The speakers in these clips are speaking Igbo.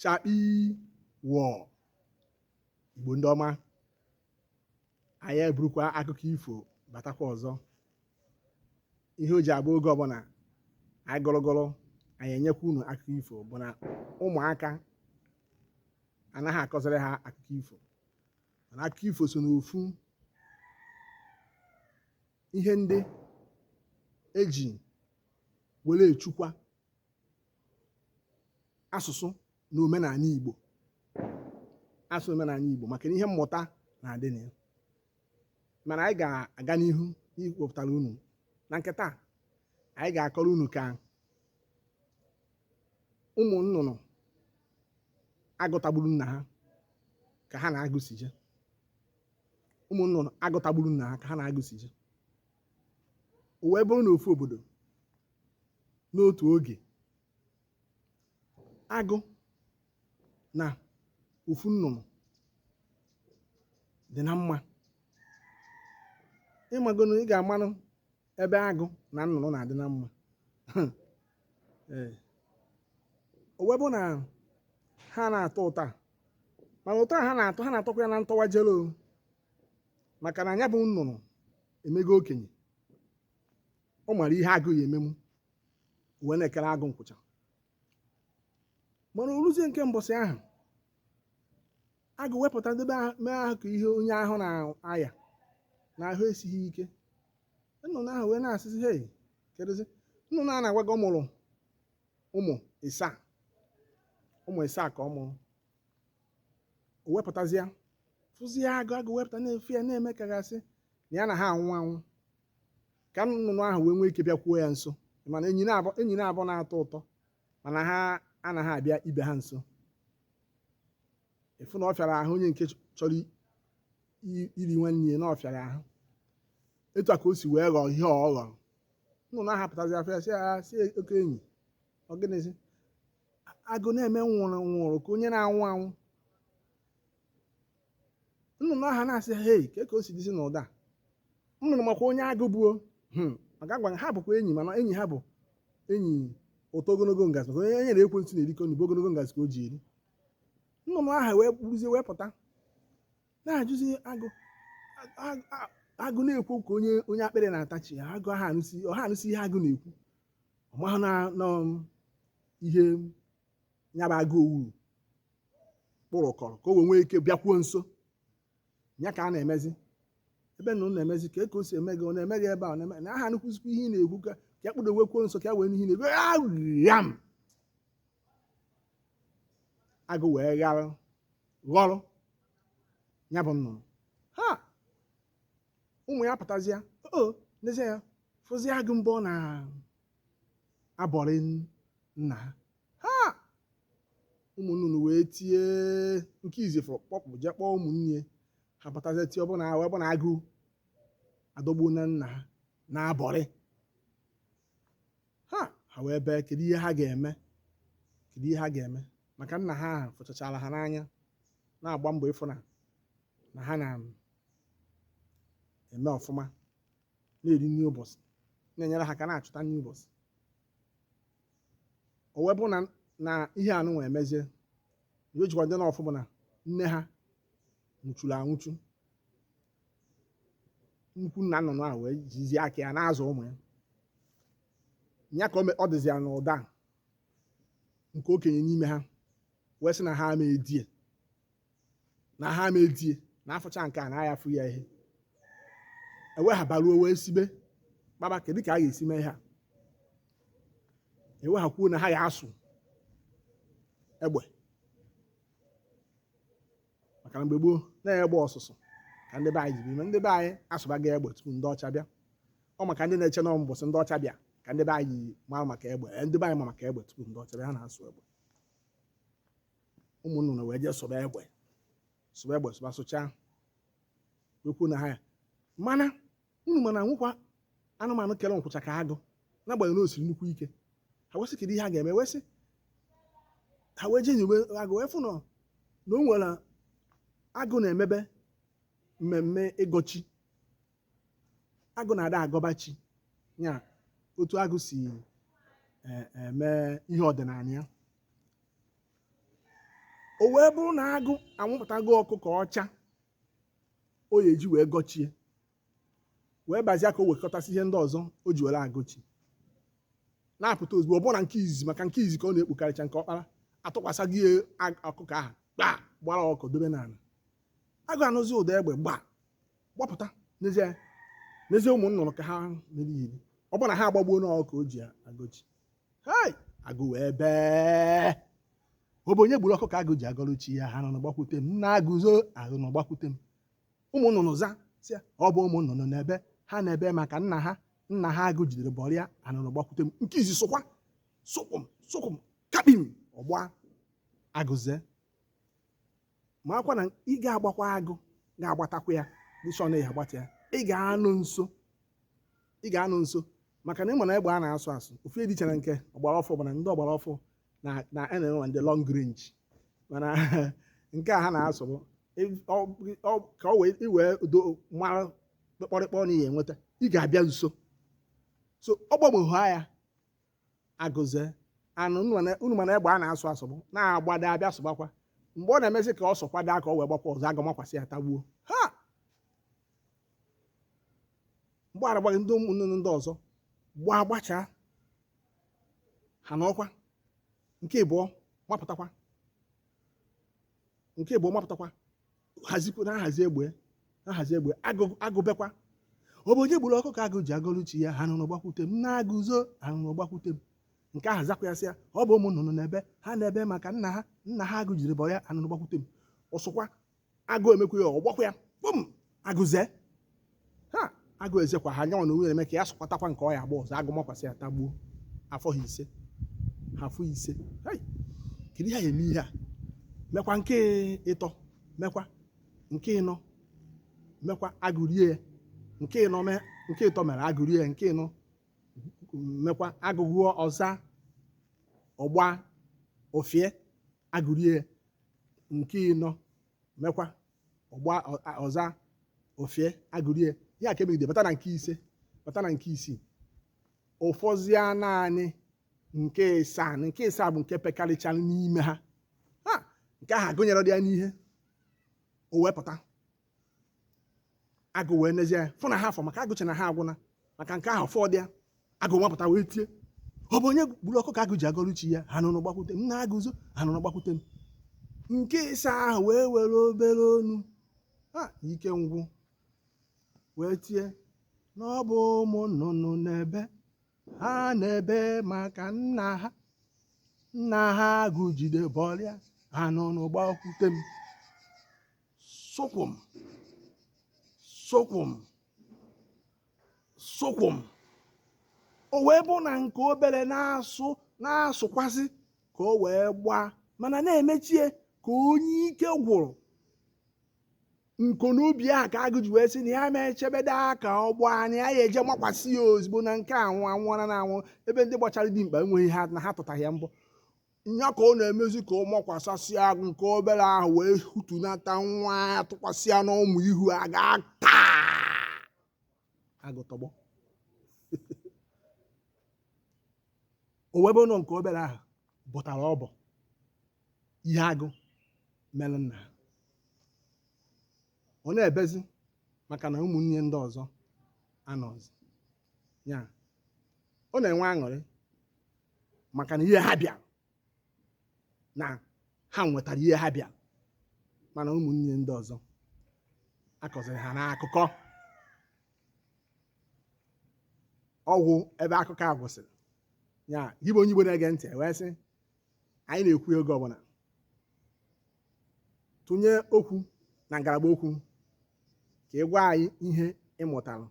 chakpi wọ igbo ndị ọma anyị eburukwa akụkọ ifo batakwa ọzọ ihe o ji abụ oge ọbụla anyị gọrọgọrọ anyị enyekwa unu akụkọ ifo bụ na ụmụaka anaghị akọziri ha akụkọ ifo mana akụkọ ifo so n'ofu ihe ndị e ji were echekwa asụsụ na omenala Igbo asụsụ omenala Igbo maka ihe mmụta na-adị na ya mana anyị ga-aga n'ihu iwepụtara unu na nke taa anyị ga-akọrọ unu ka ụmụ nnụnụ agụ tagburu nna ha ka ha na agụ si jee ụmụ nnụnụ agụ tagburu nna ha ka ha na agụ si jee o wee bụrụ na ofu obodo n'otu oge agụ na ofu nnụnụ dị na mma ị magonu ị ga-amanụ ebe agụ na nnụnụ na-adị na mma o wee bụ na ha na-atọ ụtọ a mana ụtọ a ha na-atọ ha na-atọkwa ya na ntọwa jelo maka na ya bụ nnụnụ emego okenye ọ mara ihe agụ ya-emenwu wee na-ekere agụ nkwụcha mana o ruzie nke mbọsị ahụ agụ wee pụta debe ahụ- mee ahụ ka ihe onye ahụ na-aya na ahụ esighị ike nnụnụ ahụ wee na-asịzi hei kedụzi nnụnụ a na-agwa gị ọ mụrụ ụmụ ịsaa ụmụ ịsaa ka ọ mụrụ o wee pụtazie fụzie agụ agụ wee pụta na-efe ya na-eme ka a ga-asị na ya na ha anwụ anwụ ka nnụnụ ahụ wee nwee ike bịakwuo ya nso mana enyi naabọ enyi naabọ na-atọ ụtọ mana ha anaghị abịa ibe ha nso ị fụ na ọ fịara ahụ onye nke chọrọ i- iri nwanne ya na ọ fịara ahụ etu a ka o si wee ghọọ ihe ọ ghọrọ nnụnụ ahụ apụtazi afụ ya sị ya sị ya oke enyi ọ gịnịzi agụ na-eme nwụrụ nwụrụ ka onye na-anwụ anwụ nnụnụ aha na-asị hei kee ka o si dịzi n'ụdị a? nnụnụ makwa onye agụ bụ o hmm, maka agwa ha bụkwa enyi mana enyi ha bụ enyi ụtọ ogologo ngazi maka onye ya na ekwensu na-erikọ nri bụ ogologo ngazi ka o ji eri nnụnụ aha wee kpụrụzie wee pụta na-ajụzi agụ a- a- agụ na-ekwu ka onye onye akpịrị na-atachi ya agụ aha anụsi ọ ha anụsi ihe agụ na-ekwu ọ mahụ na na ihe ya bụ agụ owuru kpụrụkọrọ ka o wee nwee ike bịakwuo nso ya ka a na-emezi ebe nnụnụ na-emezi ka eke o si eme gị ọ na-eme gị ebe a ọ na-eme na aha nụkwụzikwa ihe ị na-ekwu ka ka ya kpụdowekwuo nso ka ya wee nụ ihe ọ na-ekwu agham agụ wee ghara ghọrọ ya bụ nnụnụ ha ụmụ ya pụtazịa o n'ezi ya fụzi agụ ebe ọ na-abọri nna ha ha ụmụnnụnụ wee tie nke izizi fụ kpọpụ jee kpọọ ụmụnne ha batazie tie ọ bụ na ahụ ọ bụ na agụ adọgbuona nna ha na-abọri ha ha wee bee kedu ihe ha ga-eme kedu ihe ha ga-eme maka nna ha ahụ fụchachara ha n'anya na-agba mbọ ịfụ na na ha na-eme ọfụma na-eri nri ụbọchị na-enyere ha aka na-achụta nri ụbọchị o wee bụrụ na na ihe a nụnwa emezie ihe o jikwa dị n'ụfụ bụ na nne ha nwụchuru anwụchu nnukwu nna nnụnụ a wee jizie aka ya na-azụ ụmụ ya ya ka o me- ọ dịzi ya n'ụda nke okenye n'ime ha wee sị na ha ama edie na ha ama edie na a fụcha nke a na a ya-afụ ya ihe ewe ha baruo wee sibe kpaba kedu ka a ga-esi mee ha ewe ha kwuo na ha ga-asụ egbe maka na mgbe gboo na egbe ọsụsụ ka ndị be anyị jiri eme ndị be anyị asụbago egbe tupu ndị ọcha bịa ọ maka ndị na-eche na mbọsị ndị ọcha bịa ka ndị be anyị mara maka egbe ndị be anyị ma maka egbe tupu ndị ọcha bịa ha na-asụ egbe ụmụ nnụnụ wee jee sụba egbe sụba egbe sụba sụchaa wee kwuo na ha ya mana unu ma na enwekwa anụmanụ kere nkwụcha ka agụ n'agbanyeghị na o siri nnukwu ike ha wee sị kedu ihe ha ga-eme wee sị ha wee jee nyobe agụ wee fụ na na o nwere agụ na-emebe mmemme ịgọ chi agụ na-ada agọba chi ya otu agụ si eh, eme ihe ọdịnala ya o wee bụrụ na agụ anwụpụtago ọkụkọ ọcha ọ ya-eji wee gọọ chi ya wee bazia ka o wekọtasị ihe ndị ọzọ o ji were agọ chi na-apụta ozugbo ọ bụrụ na nke izizi maka nke izizi ka ọ na-ekpukarịcha nke ọkpara atụkwasị ya ag- ọkụkọ ahụ gbaa gbara ọkụ dobe n'ala agụ anụzi ụda egbe gbaa gbapụta nezie nezie ụmụ nnụnụ ka ha mere iri ọ bụrụ na ha agbagbuona ọkụkọ o ji agọ chi hei agụ wee bee ọ bụ onye gburu ọkụkọ agụ ji agọrọ chi ya anụnụ gbakwute m na agụzo anụnụ gbakwute m ụmụ nnụnụ za sị ya, ọ bụ ụmụ nnụnụ na-ebe ha na-ebe maka nna ha nna ha agụ jidere bọrịa anụnụ gbakwute m nke izi sụkwa sụkwụm sụkwụm kapim ọ gbaa agụ ezee makwa na ị ga-agbakwa agụ ga-agbatakwa ya dịchọ na ya agbata ya ị ga-anọ nso ị ga-anọ nso maka na ị ma na egbe a na-asụ asụ ọfụ dị iche na nke ọgbara ọfụ bụ na ndị ọgbara ọfụ na na-enwe ndị long range mana nke a ha na-asụ bụ ị- ọ- ọ- ka o wee iwee do mara kpọrịkpọ na ihe enweta ị ga-abịa nso so ọ gbagbughị ya agụ ezee anụ unu ma na- unu ma na egbe a na-asụ asụ bụ na-agbada abịa sụgbakwa mgbe ọ na-emezi ka ọ sụkwado aka o wee gbakwa ọzọ agụ makwasị ya tagbuo ha mgbe aragbaghị ndị ụmụnne ndị ọzọ gbaa gbachaa ha n'ọkwa nke ịbụọ mapụtakwa nke ịbụọ mapụtakwa hazikwa na ahazi egbe ahazi egbe agụ ebekwa ọ bụ onye gburu ọkụkọ agụ ji agọlụ chi ya anụnụ gbakwute m na agụzo anụnụ gbakwute m nke ahụ zakwa ya sị ya ọ bụ ụmụ nnụnụ na-ebe ha na-ebe maka nna ha nna ha agụ jiri bọrịa anụnụ gbakwute m ọ sụkwa agụ emekwa ya ọ gbakwa ya kpụm agụ ezee ha agụ ezekwa ha nyanwa na onwe na-eme ka ya sụkwatakwa nke ọ ya-agba ọzọ agụ makwasị ya tagbuo afọ ha ise ha afọ ise Hai! kedu ihe a eme ihe a mekwa nke ịtọ mekwa nke ịnọ mekwa agụ rie ya nke ịnọ mee nke ịtọ mere agụ rie ya nke ịnọ mekwa agụ gụọ ọ za ọ gbaa o fie agụ rie ya nke ịnọ mekwa ọ gbaa ọ za o fie agụ rie ya ka e megide bata na nke ise bata na nke isii ọ fọzịa naanị nke ịsaa na nke ịsaa bụ nke pekarịchara n'ime ha ha nke ahụ agụnyere dị ya n'ihe o wee pụta agụ wee nezie ya fụ na ha afọ maka agụ chee na ha agwụna maka nke ahụ fọdụ ya agụ nwapụta wee tie ọ bụ onye gburu ọkụkọ agụ ji agọrọ chi ya anụnụ gbakwute m na agụzo anụnụ gbakwute m nke ịsaa ahụ wee were obere onu ike ngwụ wee tie na ọ bụ ụmụ nnụnụ na-ebe ha na-ebe maka nna ha nna ha agụ jide bọrịa anụnụ gbakwute m sụkwụm sụkwụm sokwo m o wee bụ na nke obere na-asụkwasị ka o wee gbaa mana na-emechie ka onye ike gwụrụ nko n'ubi a ka agụ ji wee sị na ya ma echebede aka ọ gbaa anya ya eje makwasị ya ozugbo na nke anwụ anwụọla na anwụ ebe ndị gbachara dimkpa enweghị ha na ha tụtaghị ya mbọ nya ka ọ na-emezi ka ọ makwasasịa agụ nke obere ahụ wee hutunata nwa ya tụkwasị ya n'ụmụ ihu a ga-ata agụ tọgbọ o wee bụ na nke obere ahụ bọtara ọbọ ihe agụ mere nna ha. ọ na-ebezi maka na ụmụnne ndị ọzọ anọzi ya ọ na-enwe aṅụrị maka na ihe ha bịara na ha nwetara ihe ha bịara mana ụmụnne ndị ọzọ akọziri ha n'akụkọ ọ gwụ ebe akụkọ a gwụsịrị ya gị bụ onye Igbo na-ege ntị wee sị anyị na-ekwu oge ọbụla tụnye okwu na ngalaba okwu ka ị gwa anyị ihe ị mụtara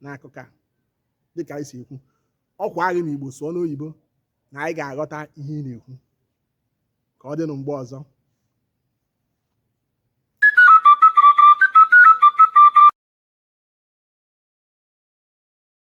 n'akụkọ a dịka anyị si ekwu o kweghị n'Igbo sụọ n'oyibo na anyị ga-aghọta ihe ị na-ekwu ka ọ dịnụ mgbe ọzọ